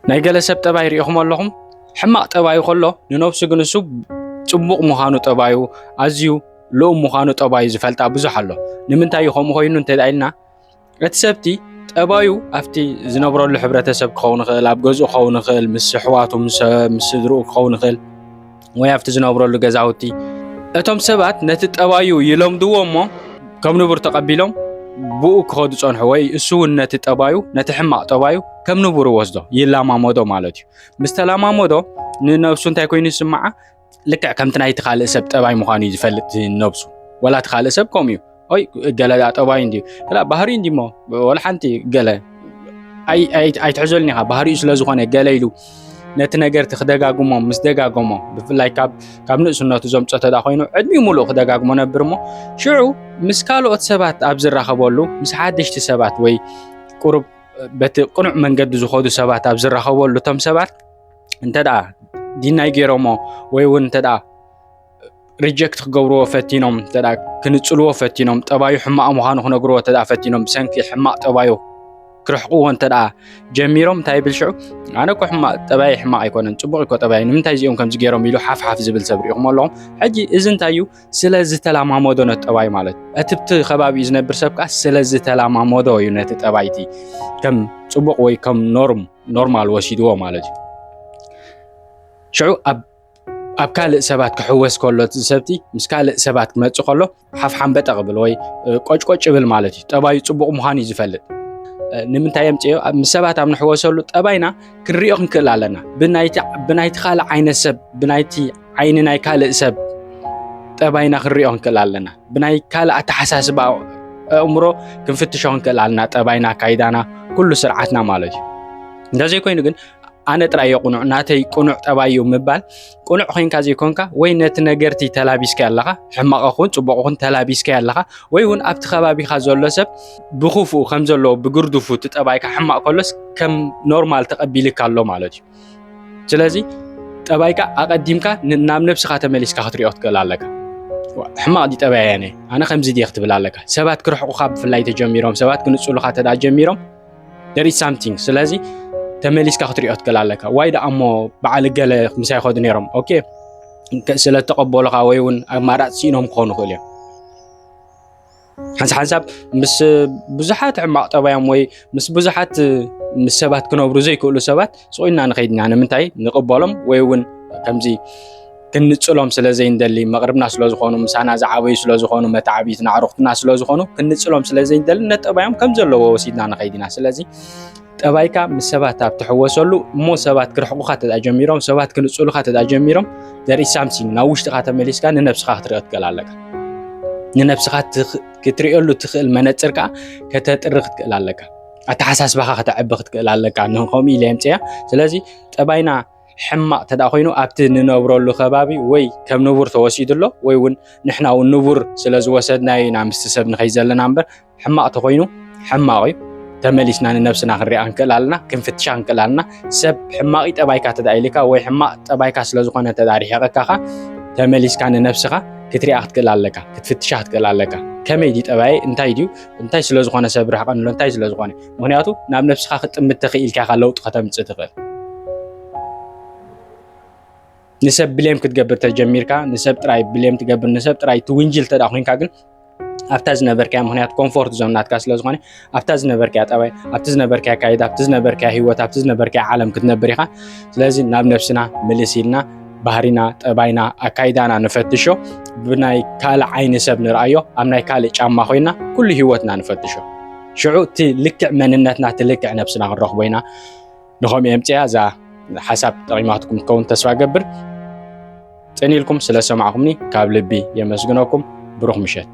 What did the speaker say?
ናይ ገለ ሰብ ጠባይ ርኢኹሞ ኣለኹም? ሕማቕ ጠባዩ ከሎ ንነብሱ ግን እሱ ጽቡቕ ምዃኑ ጠባዩ ኣዝዩ ልኡም ምዃኑ ጠባዩ ዝፈልጣ ብዙሕ ኣሎ። ንምንታይ እዩ ከምኡ ኮይኑ እንተ ኢልና እቲ ሰብቲ ጠባዩ ኣብቲ ዝነብረሉ ሕብረተሰብ ክኸውን ይኽእል፣ ኣብ ገዝኡ ክኸውን ይኽእል፣ ምስ ኣሕዋቱ ምስ ስድርኡ ክኸውን ይኽእል። ወይ ኣብቲ ዝነብረሉ ገዛውቲ እቶም ሰባት ነቲ ጠባዩ ይለምድዎ እሞ ከም ንቡር ተቐቢሎም ብኡ ክኸዱ ጸንሑ ወይ እሱ እውን ነቲ ጠባዩ ነቲ ሕማቕ ጠባዩ ከም ንቡር ወስዶ ይላማመዶ ማለት እዩ ምስ ተላማመዶ ንነብሱ እንታይ ኮይኑ ይስምዓ ልክዕ ከምቲ ናይቲ ካልእ ሰብ ጠባይ ምዃኑ እዩ ዝፈልጥ ነብሱ ወላ እቲ ካልእ ሰብ ከምኡ እዩ ኦይ ገለ ጠባይ እንዲ ላ ባህሪ እንዲ ሞ ወላ ሓንቲ ገለ ኣይትሕዘሉኒ ኢኻ ባህሪኡ ስለ ዝኾነ ገለ ኢሉ ነቲ ነገርቲ ክደጋግሞ ምስ ደጋገሞ ብፍላይ ካብ ንእስነቱ ዘምፆ ተዳ ኮይኑ ዕድሚ ሙሉእ ክደጋግሞ ነብር እሞ ሽዑ ምስ ካልኦት ሰባት ኣብ ዝራኸበሉ ምስ ሓደሽቲ ሰባት ወይ ቁሩብ በቲ ቅኑዕ መንገዲ ዝኾዱ ሰባት ኣብ ዝራኸበሉ እቶም ሰባት እንተ ዲናይ ገይሮሞ ወይ እውን እንተ ሪጀክት ክገብርዎ ፈቲኖም እንተ ክንጽልዎ ፈቲኖም ጠባዩ ሕማቕ ምዃኑ ክነግርዎ እንተ ፈቲኖም ብሰንኪ ሕማቕ ጠባዩ ክርሕቕዎ እንተ ጀሚሮም እንታይ ይብል ሽዑ ኣነ እኮ ሕማቕ ጠባይ ሕማቕ ኣይኮነን ፅቡቕ እኮ ጠባይ ንምንታይ እዚኦም ከምዚ ገይሮም ኢሉ ሓፍሓፍ ዝብል ሰብ ሪኢኹም ኣለኹም ሕጂ እዚ እንታይ እዩ ስለ ዝተላማመዶ ነቲ ጠባይ ማለት እቲ ብቲ ከባቢ እዩ ዝነብር ሰብ ከዓ ስለ ዝተላማመዶ እዩ ነቲ ጠባይቲ ከም ፅቡቕ ወይ ከም ኖርም ኖርማል ወሲድዎ ማለት እዩ ሽዑ ኣብ ኣብ ካልእ ሰባት ክሕወስ ከሎ እቲ ሰብቲ ምስ ካልእ ሰባት ክመፅእ ከሎ ሓፍሓምበጠ ክብል ወይ ቆጭቆጭ ይብል ማለት እዩ ጠባዩ ፅቡቕ ምዃኑ እዩ ዝፈልጥ ንምንታይ እዮም ፅዮ ምስ ሰባት ኣብ ንሕወሰሉ ጠባይና ክንሪኦ ክንክእል ኣለና ብናይቲ ካልእ ዓይነት ሰብ ብናይቲ ዓይኒ ናይ ካልእ ሰብ ጠባይና ክንሪኦ ክንክእል ኣለና ብናይ ካልእ ኣተሓሳስባ ኣእምሮ ክንፍትሾ ክንክእል ኣለና ጠባይና ካይዳና ኩሉ ስርዓትና ማለት እዩ እንደዘይኮይኑ ግን ኣነ ጥራይ እየ ቁኑዕ ናተይ ቁኑዕ ጠባይ እዩ ምባል ቁኑዕ ኮይንካ ዘይኮንካ ወይ ነቲ ነገርቲ ተላቢስካ ኣለኻ ሕማቕ ኹን ጽቡቕ ኹን ተላቢስካ ኣለኻ ወይ እውን ኣብቲ ከባቢኻ ዘሎ ሰብ ብክፉኡ ከም ዘለዎ ብግርድፉ እቲ ጠባይካ ሕማቕ ከሎስ ከም ኖርማል ተቐቢልካ ኣሎ ማለት እዩ ስለዚ ጠባይካ ኣቐዲምካ ናብ ነብስኻ ተመሊስካ ክትሪኦ ክትክእል ኣለካ ሕማቕ ዲ ጠባይ ኣነ ኣነ ከምዚ ዲ ክትብል ኣለካ ሰባት ክርሕቑኻ ብፍላይ ተጀሚሮም ሰባት ክንጽሉኻ ተዳ ጀሚሮም there is something ስለዚ ተመሊስካ ክትሪኦ ትክእል ኣለካ ዋይ ደኣ እሞ በዓል ገለ ምሳይ ይኸዱ ነይሮም ኦኬ ስለ ተቐበሉኻ ወይ እውን ኣማራፂ ሲኢኖም ክኾኑ ይኽእሉ እዮም ሓንሳ ሓንሳብ ምስ ብዙሓት ሕማቕ ጠባዮም ወይ ምስ ብዙሓት ምስ ሰባት ክነብሩ ዘይክእሉ ሰባት ስቑኢልና ንኸይድ ኢና ንምንታይ ንቕበሎም ወይ እውን ከምዚ ክንጽሎም ስለ ዘይንደሊ መቕርብና ስለ ዝኾኑ ምሳና ዝዓበዩ ስለ ዝኾኑ መታዕቢትና ኣዕሩኽትና ስለ ዝኾኑ ክንጽሎም ስለ ዘይንደሊ ነጠባዮም ከም ዘለዎ ወሲድና ንኸይድ ኢና ስለዚ ጠባይካ ምስ ሰባት ኣብ ትሕወሰሉ እሞ ሰባት ክርሕቑኻ ተዳ ጀሚሮም ሰባት ክንጽሉኻ ተዳ ጀሚሮም ዘርኢ ሳምሲንግ ናብ ውሽጥኻ ተመሊስካ ንነብስኻ ክትሪኦ ትክእል ኣለካ ንነብስኻ ክትሪኦሉ ትኽእል መነፅር ከዓ ከተጥሪ ክትክእል ኣለካ ኣተሓሳስባኻ ከተዕቢ ክትክእል ኣለካ ንከምኡ ኢለ የምፅያ ስለዚ ጠባይና ሕማቕ ተዳ ኮይኑ ኣብቲ ንነብረሉ ከባቢ ወይ ከም ንቡር ተወሲዱ ኣሎ ወይ እውን ንሕና እውን ንቡር ስለ ዝወሰድናዮ ኢና ምስቲ ሰብ ንኸይ ዘለና እምበር ሕማቕ ተኮይኑ ሕማቕ እዩ ተመሊስና ንነብስና ክንሪኣ ንክእል ኣለና ክንፍትሻ ንክእል ኣለና ሰብ ሕማቂ ጠባይካ ተዳ ኢልካ ወይ ሕማቕ ጠባይካ ስለ ዝኾነ ተዳ ርሒቐካኻ ተመሊስካ ንነብስኻ ክትሪኣ ክትክእል ኣለካ ክትፍትሻ ክትክእል ኣለካ ከመይ ድዩ ጠባይ እንታይ ድዩ እንታይ ስለ ዝኾነ ሰብ ርሕቐንሎ እንታይ ስለ ዝኾነ ምክንያቱ ናብ ነብስኻ ክጥምት ተኽኢልካ ኢኻ ለውጢ ከተምፅእ ትኽእል ንሰብ ብሌም ክትገብር ተጀሚርካ ንሰብ ጥራይ ብሌም ትገብር ንሰብ ጥራይ ትውንጅል ተዳ ኮንካ ግን ኣብታ ዝነበርካያ ምክንያት ኮምፎርት ዞን ናትካ ስለ ዝኾነ ኣብታ ዝነበርካያ ጠባይ ኣብቲ ዝነበርካያ ካይድ ኣብቲ ዝነበርካያ ሂወት ኣብቲ ዝነበርካያ ዓለም ክትነብር ኢኻ ስለዚ ናብ ነብስና ምልስ ኢልና ባህሪና፣ ጠባይና፣ ኣካይዳና ንፈትሾ፣ ብናይ ካልእ ዓይኒ ሰብ ንርኣዮ፣ ኣብ ናይ ካልእ ጫማ ኮይና ኩሉ ህይወትና ንፈትሾ። ሽዑ እቲ ልክዕ መንነትና እቲ ልክዕ ነብስና ክንረኽቦ ኢና። ንኸምኡ የምፅያ እዛ ሓሳብ ጠቂማትኩም ትከውን ተስፋ ገብር። ፅን ኢልኩም ስለሰማዕኩምኒ ካብ ልቢ የመስግነኩም። ብሩኽ ምሸት።